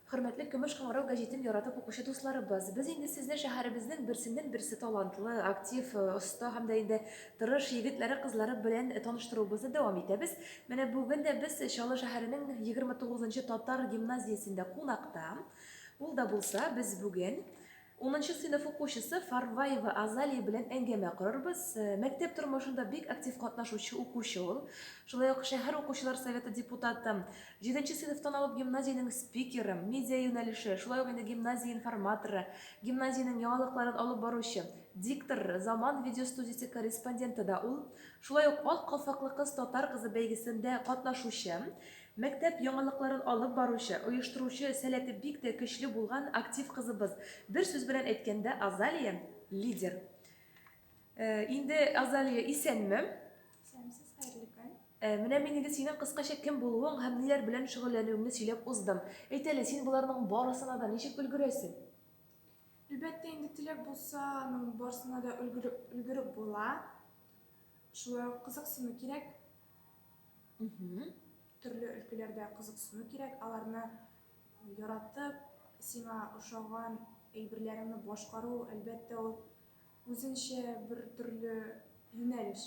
Хөрмәтле Көмеш кыңгырау гәҗитен яратып укучы дусларыбыз, без инде сезне шәһәребезнең берсеннән-берсе талантлы, актив, оста һәм дә инде тырыш егетләре-кызлары белән таныштыруыбызны дәвам итәбез. Менә бүген дә без Чаллы шәһәренең 29 нчы татар гимназиясендә кунакта. Ул да булса, без бүген Унынчы сыйныф укучысы Фарваева Азалия белән әңгәмә корырбыз. Мәктәп тормышында бик актив катнашучы укучы ул. Шулай ук шәһәр укучылар советы депутаты, җиденче сыйныфтан алып гимназиянең спикеры, медиа юнәлеше, шулай ук инде гимназия информаторы, гимназиянең яңалыкларын алып баручы, диктор, Заман видеостудиясе корреспонденты да ул. Шулай ук Ак калфаклы кыз татар кызы бәйгесендә катнашучы, Мәктәп яңалыкларын алып баручы, оештыручы, сәләте бик тә көчле булган актив кызыбыз. Бер сүз белән әйткәндә, Азалия, лидер. Инде Азалия исәнме? Исәнмесез, хәерле көн. Менә мин инде синең кыскача кем булуың һәм ниләр белән шөгыльләнүеңне сөйләп уздым. Әйт әле, син боларның барысына да ничек өлгерәсең? Әлбәттә, инде теләк булса, аның барысына да өлгереп була. Шулай ук кызыксыну кирәк. Төрле өлкәләрдә кызыксыну кирәк, аларны яратып, сиңа ошаган әйберләреңне башкару, әлбәттә, ул үзенчә бер төрле юнәлеш.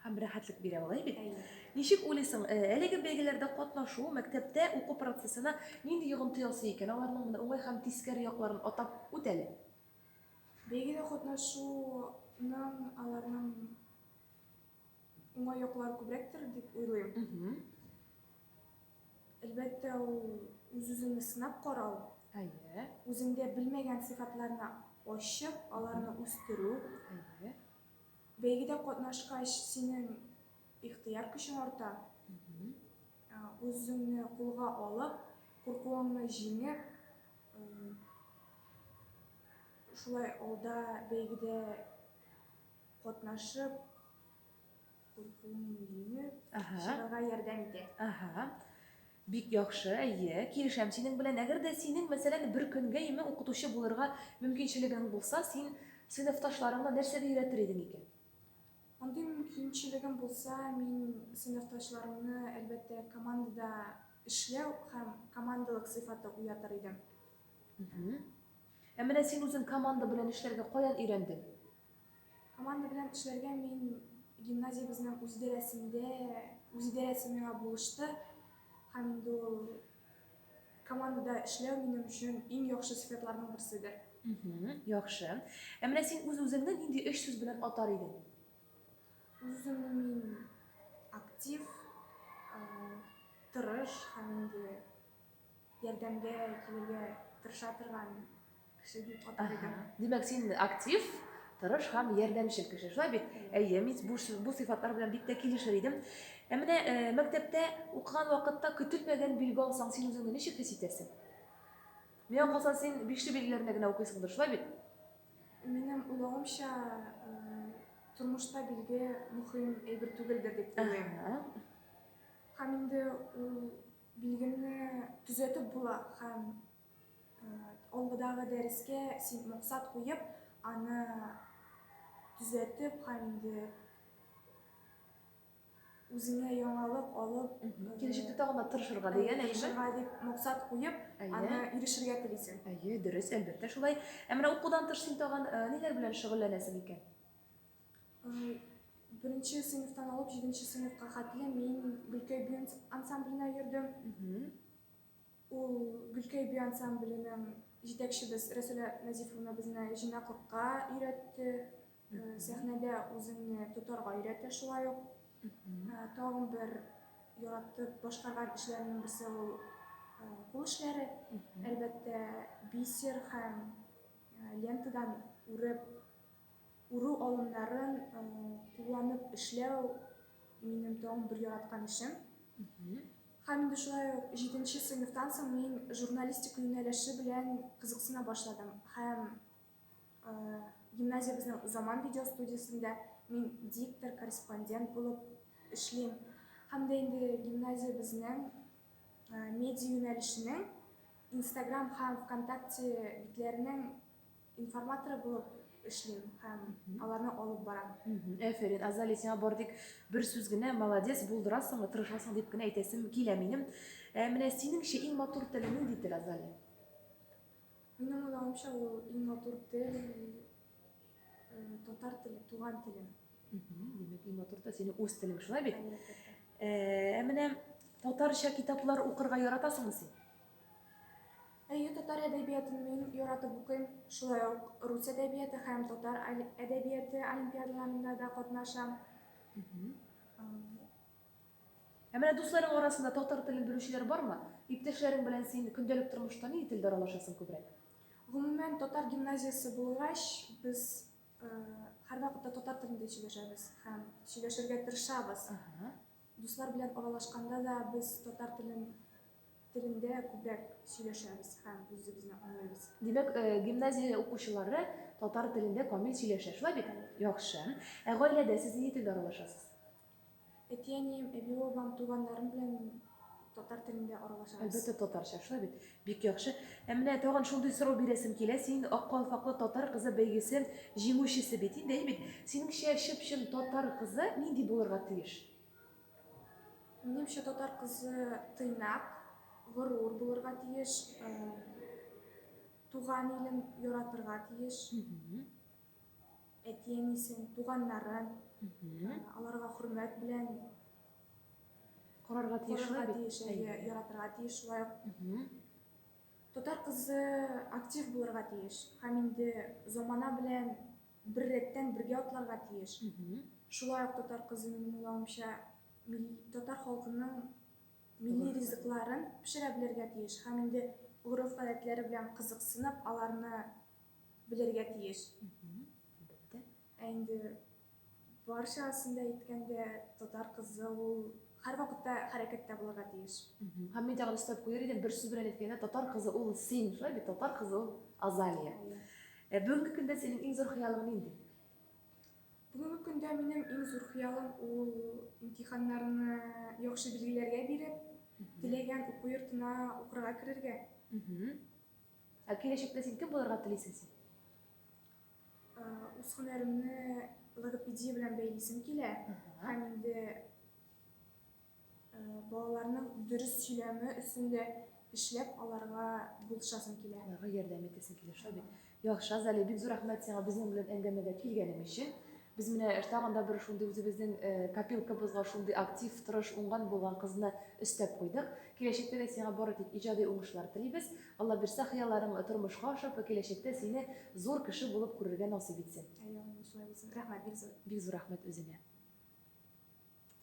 Һәм рәхәтлек бирә, алай бит? Әйе. Ничек уйлыйсың, әлеге бәйгеләрдә катнашу мәктәптә уку процессына нинди йогынты ясый икән? Аларның менә уңай һәм тискәре якларын атап үт әле. Бәйгедә катнашуның аларның уңай яклары күбрәктер дип уйлыйм. Әлбәттә, ул үз-үзеңне сынап карау. Әйе. Үзеңдә белмәгән сыйфатларны ачып, аларны үстерү. Әйе. Бәйгедә катнашкач, синең ихтыяр көчең арта. Үзеңне кулга алып, куркуыңны җиңеп, шулай алда бәйгедә катнашып куркуымны чыгарга ярдәм итә. Ага. Бик яхшы, әйе, килешәм синең белән. Әгәр дә синең, мәсәлән, бер көнгә име укытучы булырга мөмкинчелегең булса, син сыйныфташларыңа нәрсәгә өйрәтер идең икән? Андый мөмкинчелегем булса, мин сыйныфташларымны, әлбәттә, командада эшләү һәм командалык сыйфаты уятыр идем. Ә менә син үзең команда белән эшләргә каян өйрәндең? Команда белән эшләргә мин гимназиябезнең үзидарәсендә, үзидарәсе миңа булышты һәм инде ул командада эшләү минем өчен иң яхшы сыйфатларның берседер. Яхшы. Ә менә син үз-үзеңне нинди өч сүз белән атар идең? Үземне мин актив, тырыш һәм инде Ярдәмгә килергә тырыша торган кеше дип атар идем. Димәк, син актив, тырыш һәм ярдәмчел кеше, шулай бит? Әйе, мин бу, бу сыйфатлар белән бик тә килешер идем. Ә менә э, мәктәптә укыган вакытта көтелмәгән билге алсаң, син үзеңне ничек хис итәсең? Миңа калса, син бишле билгеләренә генә укыйсыңдыр, шулай бит? Минем уйлавымча, э, тормышта билге мөһим әйбер түгелдер дип уйлыйм. Һәм инде ул Билгемне төзәтеп була һәм алгыдагы дәрескә син максат куеп, аны төзәтеп һәм инде үзеңә яңалык алып, киләчәктә тагын да тырышырга дигән әйеме? Тырышырга дип максат куеп, аны ирешергә телисең. Әйе, дөрес, әлбәттә шулай. Ә менә укудан тыш син тагын ниләр белән шөгыльләнәсең икән? Беренче сыйныфтан алып җиденче сыйныфка хәтле мин Гөлкәй би ансамбленә йөрдем. Ул Гөлкәй би ансамбленең җитәкчебез Рәсүлә Назифовна безне җыйнаклыкка өйрәтте. Сәхнәдә үзеңне тотарга өйрәтә шулай ук. Тагын бер яратып башкарган эшләрнең берсе ул кул эшләре. Әлбәттә, бисер һәм лентадан үреп Уру алымнарын кулланып эшләү минем тагын бер яраткан эшем. Һәм инде шулай ук җиденче сыйныфтан соң мин журналистика юнәлеше белән кызыксына башладым. Һәм гимназиябезнең Заман видеостудиясендә мин диктор, корреспондент булып эшлим. Һәм дә инде гимназиябезнең медиа юнәлешенең Инстаграм һәм ВКонтакте битләренең Информаторы булып эшлим һәм аларны алып барам. Әфәрин, Азали, сиңа бар тик бер сүз генә, молодец, булдырасың, тырышасың дип кенә әйтәсем килә минем. Ә менә синеңчә иң матур теле нинди тел, Азали? Минем уйлавымча, ул иң матур тел татар теле, туган телем. Димәк, иң матур да синең үз телең, шулай бит? Ә менә татарча китаплар укырга яратасыңмы син? Әйе, татар әдәбиятын мин яратып укыйм. Шулай ук рус әдәбияты һәм татар әдәбияты олимпиадаларында да катнашам. Ә менә дусларың арасында татар телен белүчеләр бармы? Иптәшләрең белән син көндәлек тормышта ни телдә аралашасың күбрәк? Гомумән, татар гимназиясе булгач, без һәрвакытта татар телендә сөйләшәбез һәм сөйләшергә тырышабыз. Дуслар белән аралашканда да без татар телен телендә күбрәк сөйләшәбез һәм үзебезне аңлыйбыз. Димәк, гимназия укучылары татар телендә камил сөйләшә, шулай бит? Яхшы. Ә гаиләдә сез нинди телдә аралашасыз? Әти-әнием, әби-бабам, туганнарым белән татар телендә аралашабыз. Әлбәттә, татарча, шулай бит? Бик яхшы. Ә менә тагын шундый сорау бирәсем килә, син Ак калфаклы татар кызы бәйгесе җиңүчесе бит инде, әйе бит? Синеңчә, чып-чын татар кызы нинди булырга тиеш? Минемчә, татар кызы тыйнак, горур булырга тиеш, э, туган илен яратырга тиеш, әти-әнисен, туганнарын, э, аларга хөрмәт белән Карарга тиеш. карарга тиеш, әйе, яратырга тиеш шулай ук. Татар кызы актив булырга тиеш һәм инде замана белән беррәттән бергә атларга тиеш. Шулай ук татар кызы, минем уйлавымча, татар халкының милли ризыкларын пешерә белергә тиеш һәм инде гореф-гадәтләре белән кызыксынып, аларны белергә тиеш. Әлбәттә. Ә инде барчасын да әйткәндә, татар кызы ул һәрвакытта хәрәкәттә булырга тиеш. Һәм мин тагын өстәп куяр идем, бер сүз белән әйткәндә, татар кызы ул син, шулай бит, татар кызы ул Азалия. Ә бүгенге көндә синең иң зур хыялың нинди? Бүгенге көндә минем иң зур хыялым ул имтиханнарны яхшы билгеләргә биреп, теләгән уку йортына укырга керергә. Ә киләчәктә син кем булырга телисең син? Үз һөнәремне логопедия белән бәйлисем килә һәм инде балаларның дөрес сөйләме өстендә эшләп аларга булышасым килә. Аларга ярдәм итәсең килә шул бит. Яхшы, Азалия, бик зур рәхмәт сиңа безнең белән әңгәмәгә килгәнең өчен. Без менә тагын да бер шундый үзебезнең э, копилкабызга шундый актив, тырыш, уңган булган кызны өстәп куйдык. Киләчәктә дә сиңа бары тик иҗади уңышлар телибез. Алла бирсә, хыялларың тормышка ашып, киләчәктә сине зур кеше булып күрергә насыйп итсен. Әйе, шулай булсын. Рәхмәт, бик зур. Бик зур рәхмәт үзеңә.